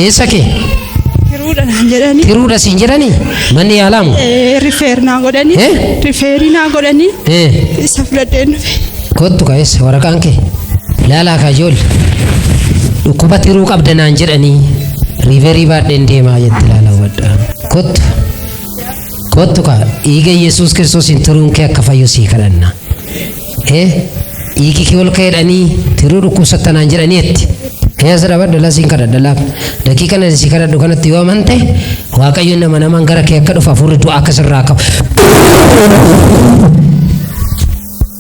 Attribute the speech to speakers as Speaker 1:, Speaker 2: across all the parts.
Speaker 1: eessa kee Tiruudha naan
Speaker 2: jedhanii. tiruudha siin jedhani
Speaker 1: manni yaalaamu Eh, Rifeer naa
Speaker 2: godhanii. Eh? Rifeerii naa godhanii. Eh, Isa fudhadheen dhufe. kottu ka eessa
Speaker 1: waraqaan kee laalaa ka ijoolli dhukkuba tiruu qabda naan jedhanii riiverii baadheen deemaa jette laalaa hubadhaa kottu Kottu kaa dhiiga Yesuus Kiristoosiin tiruun kee akka fayyu sii kadhanna. Ee dhiigi kee ol ka'eedhanii tiruu dhukkubsatta naan jedhanii etti. Ee as dhaabadhu laa siin kadhadha laa. Daqiiqa nani sii kadhadhu kanatti yoo amante Waaqayyoon nama namaan gara kee akka dhufu hafuurri du'aa akka sirraa qabu.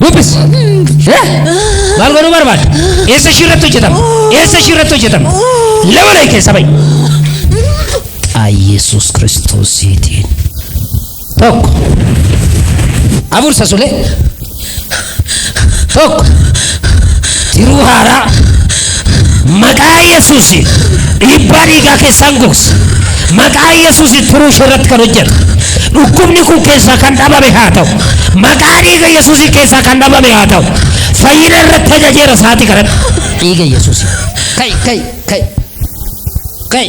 Speaker 1: Dubbis. Eh? Maal godhuu barbaadda? Eessa ishii irratti hojjetama? Eessa ishii irratti hojjetama? Lama layi keessa ba'i. Aa Yesuus Kiristoosiitiin. Tokko. Afur sasulee. Tokko. Jiruu haaraa. Maqaa Yesuusi dhiibbaa dhiigaa keessaan gogsa. Maqaa Yesuusi turuu ishee irratti kan hojjetu. Dhukkubni kun keessaa kan dhabame haa ta'u. Maqaa dhiiga Yesuusi keessaa kan dhabame haa ta'u. Fayyina irratti ajajeera sa'aatii kanatti. Dhiiga Yesuusi. Ka'i, ka'i, ka'i. Ka'i.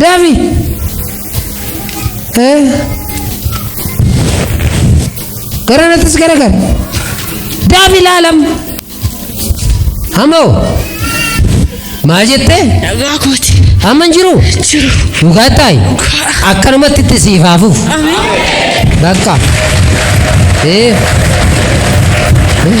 Speaker 1: Dami. Eh. Gara nattis gara gara. Dami laalam. Hamoo. Maal jettee? Dhagaa kooti.
Speaker 2: Amma hin jiru.
Speaker 1: Jiru. Dhugaa ta'i. Akkanumatti itti siif haafuuf. Bakka. Eh. Eh.